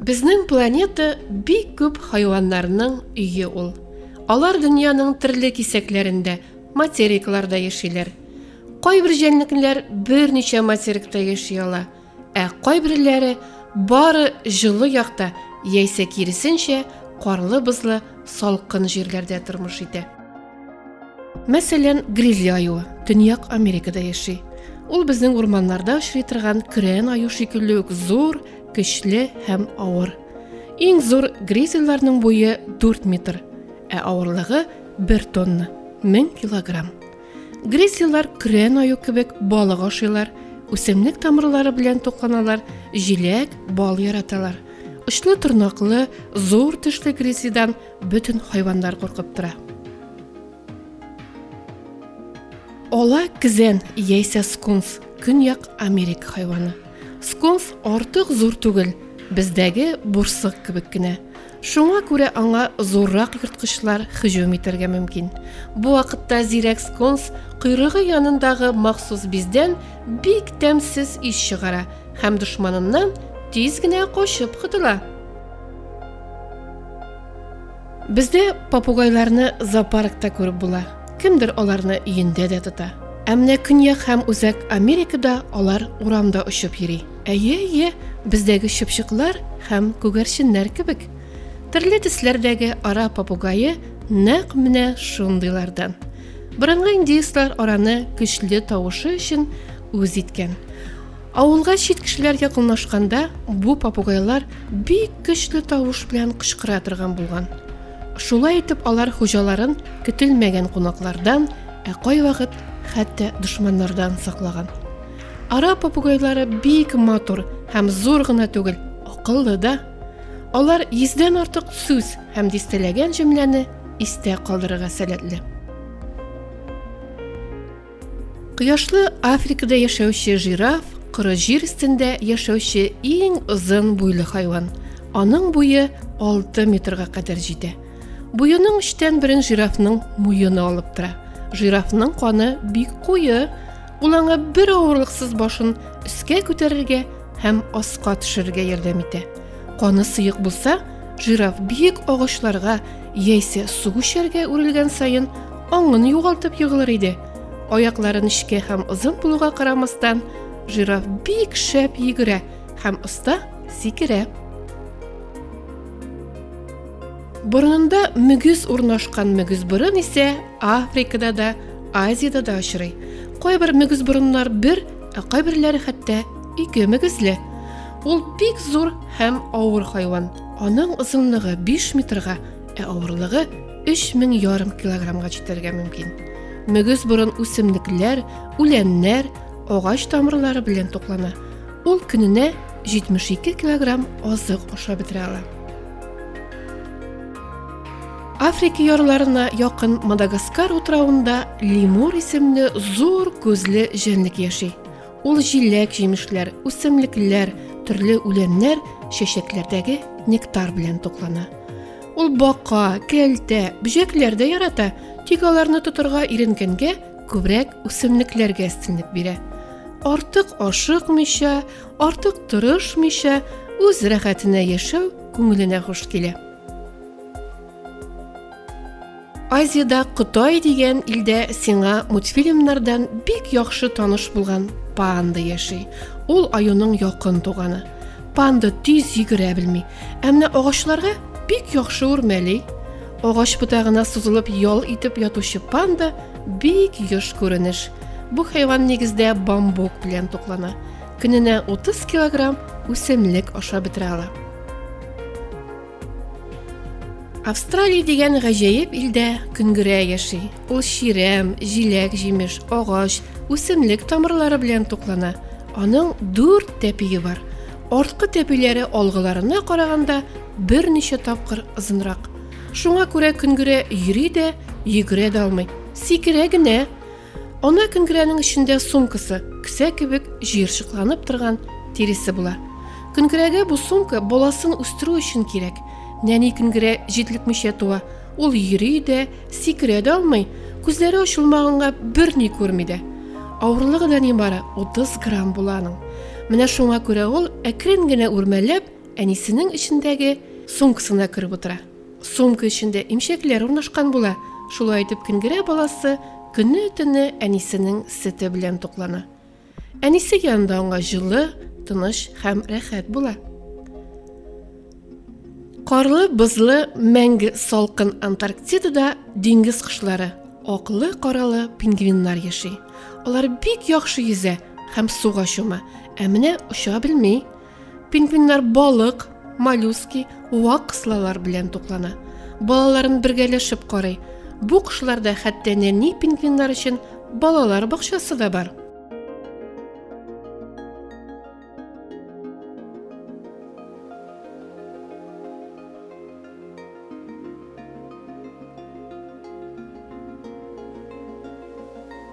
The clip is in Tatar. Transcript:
Безнең планета бик күп хайваннарның өе ул. Алар дөньяның төрле кисәкләрендә, материкларда яшиләр. Кайбер җәнлекләр берничә материкта яши ала. Ә кайберләре бары җылы якта яисә киресенчә карлы-бозлы салкын җирләрдә тормыш итә. Мәсәлән, гризли аюы Төньяк Америкада яши. Ул безнең урманнарда очрый торган көрән аю шикелле үк зур, көчле һәм авыр. Иң зур гризлиларның буе 4 метр, ә авырлыгы 1 тонна, 1000 килограмм. Гресияләр көрән аю кебек балык ашыйлар, үсемлек тамырлары белән тукланалар, җиләк, бал яраталар. Очлы торнаклы, зур тешле гресидан бөтен хайваннар куркып тора. Ала кизән яисә скунс, көньяк Америк хайваны. Скунс артык зур түгел, бездәге бурсык кебек кенә. Шуңа күрә аңа зуррак ерткычлар һөҗүм итәргә мөмкин. Бу вакытта зирәк скунс койрыгы янындагы махсус биздән бик тәмсез ис чыгара һәм дошманыннан тиз генә качып котыла. Бездә попугайларны зоопаркта күреп була. Кемдер аларны өендә дә тота. Ә менә Көньяк һәм Үзәк Америкада алар урамда очып йөри. Әйе, әйе, бездәге чыпчыклар һәм күгәрченнәр кебек. Төрле төсләрдәге ара попугае нәкъ менә шундыйлардан. Борынгы индеецлар араны көчле тавышы өчен үз иткән. Авылга чит кешеләр якынлашканда бу попугайлар бик көчле тавыш белән кычкыра торган булган. Шулай итеп алар хуҗаларын көтелмәгән кунаклардан, ә кайвакыт хәтта дошманнардан саклаган. Ара попугайлары бик матур һәм зур гына түгел, акыллы да. Алар йөздән артык сүз һәм дистәләгән җөмләне истә калдырырга сәләтле. Кояшлы Африкада яшәүче жираф коры җир өстендә яшәүче иң озын буйлы хайван. Аның буе 6 метрга кадәр җитә. Буеның өчтән берен жирафның муены алып тора. Жирафның каны бик куе, Ул аңа бер авырлыксыз башын өскә күтәрергә һәм аска төшерергә ярдәм итә. Каны сыек булса, жираф биек агачларга яисә су күчәргә үрелгән саен аңын югалтып егылыр иде. Аяклары нечкә һәм озын булуга карамастан, жираф бик шәп йөгерә һәм оста сикерә. Борынында мөгез урнашкан мөгез борын исә Африкада да Азиядә дә очрый. Кайбер мөгезборыннар бер, ә кайберләре хәтта ике мөгезле. Ул бик зур һәм авыр хайван. Аның озынлыгы 5 метрга, ә авырлыгы 3000 ярым килограммга җитәргә мөмкин. Мөгезборын үсемлекләр, үләннәр, агач тамырлары белән туклана. Ул көненә 72 килограмм азык ашап бетерә ала. Африка ярларына якын Мадагаскар утравында лемур исемле зур күзле җәнлек яши. Ул җиләк, җимешләр, үсемлекләр, төрле үләннәр, чәчәкләрдәге нектар белән туклана. Ул бака, кәлтә, бөҗәкләр дә ярата, тик аларны тотырга иренгәнгә күбрәк үсемлекләргә өстенлек бирә. Артык ашыкмыйча, артык тырышмыйча, үз рәхәтенә яшәү күңеленә хуш килә. Азиядә Кытай дигән илдә сиңа мультфильмнардан бик яхшы таныш булган панда яши. Ул аюның якын туганы. Панда тиз йөгерә белми, ә менә агачларга бик яхшы үрмәли. Агач ботагына сузылып ял итеп ятучы панда бик еш күренеш. Бу хайван нигездә бамбук белән туклана. Көненә 30 килограмм үсемлек ашап бетерә ала. Австралия дигән гаҗәеп илдә көнгерә яши. Ул чирәм, җиләк, җимеш, агач, үсемлек тамырлары белән туклана. Аның дүрт тәпие бар. Арткы тәпиләре алгыларына караганда берничә тапкыр озынрак. Шуңа күрә көнгерә йөри дә, йөгерә дә алмый. Сикерә генә. Ана көнгерәнең эчендә сумкасы, кесә кебек җыерчыкланып торган тиресе була. Көнгерәгә бу сумка баласын үстерү өчен кирәк. Нәни көнгерә җитлекмичә туа. Ул йөри дә, сикерә дә алмый, күзләре ачылмаганга берни күрми дә. Авырлыгы да нибары 30 грамм була аның. Менә шуңа күрә ул әкрен генә үрмәләп әнисенең эчендәге сумкасына кереп утыра. Сумка эчендә имчәкләр урнашкан була. Шулай итеп кенгерә баласы көне-төне әнисенең сөте белән туклана. Әнисе янында аңа җылы, тыныч һәм рәхәт була. Карлы, бозлы, мәңге салкын Антарктидада диңгез кошлары, аклы, каралы пингвиннар яши. Алар бик яхшы йөзә һәм суга чума, ә менә оча белми. Пингвиннар балык, моллюски, вак кыслалар белән туклана. Балаларын бергәләшеп карый. Бу кошларда хәтта нәни пингвиннар өчен балалар бакчасы да бар.